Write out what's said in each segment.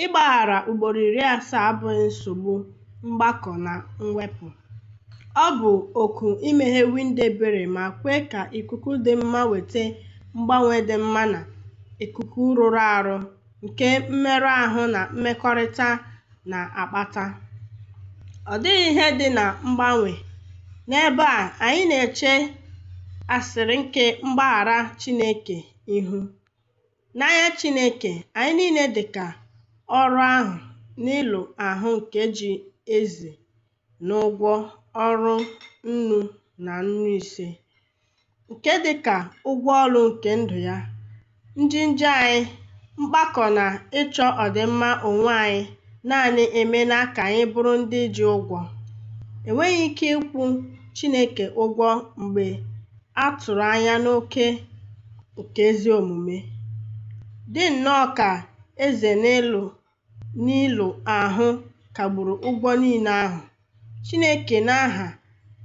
Ịgbaghara ugboro iri asaa abụghị nsogbu mgbakọ na mwepụ. Ọ bụ oku imeghe windo ebere ma kwe ka ikuku dị mma weta mgbanwe dị mma na ikuku rụrụ arụ nke mmerụ ahụ na mmekọrịta na-akpata. Ọ dịghị ihe dị na mgbanwe. N'ebe a, anyị na-eche asịrị nke mgbaghara Chineke ihu. N'anya Chineke, anyị niile dị ka oru ahụ n'ilu ahụ nke ji eze n'ụgwọ ọrụ nnu na nnu ise, nke dị ka ụgwọ ọrụ nke ndụ ya, njehie anyị, mpako na ịchọ ọdịmma onwe anyị naanị emeela ka anyị bụrụ ndị ji ụgwọ. Enweghị ike ịkwụ Chineke ụgwọ mgbe A tụrụ anya n'oke nke ezi omume, dị nnọọ ka eze n'ilu n'ilu ahụ kagburu ụgwọ niile ahụ. Chineke n'aha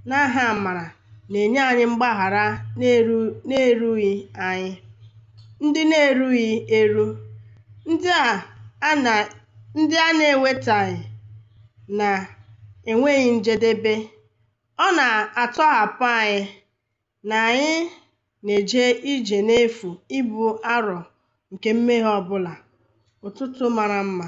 n'aha amara na-enye anyị mgbaghara na-eru na-erughị anyị, ndị na-erughị eru, ndị a a na ndị a na-enwetaghị na-enweghị njedebe. Ọ na-atọhapụ anyị na anyị na-eje ije n'efu ibu arọ nke mmehie ọ bụla. Ụtụtụ mara mma.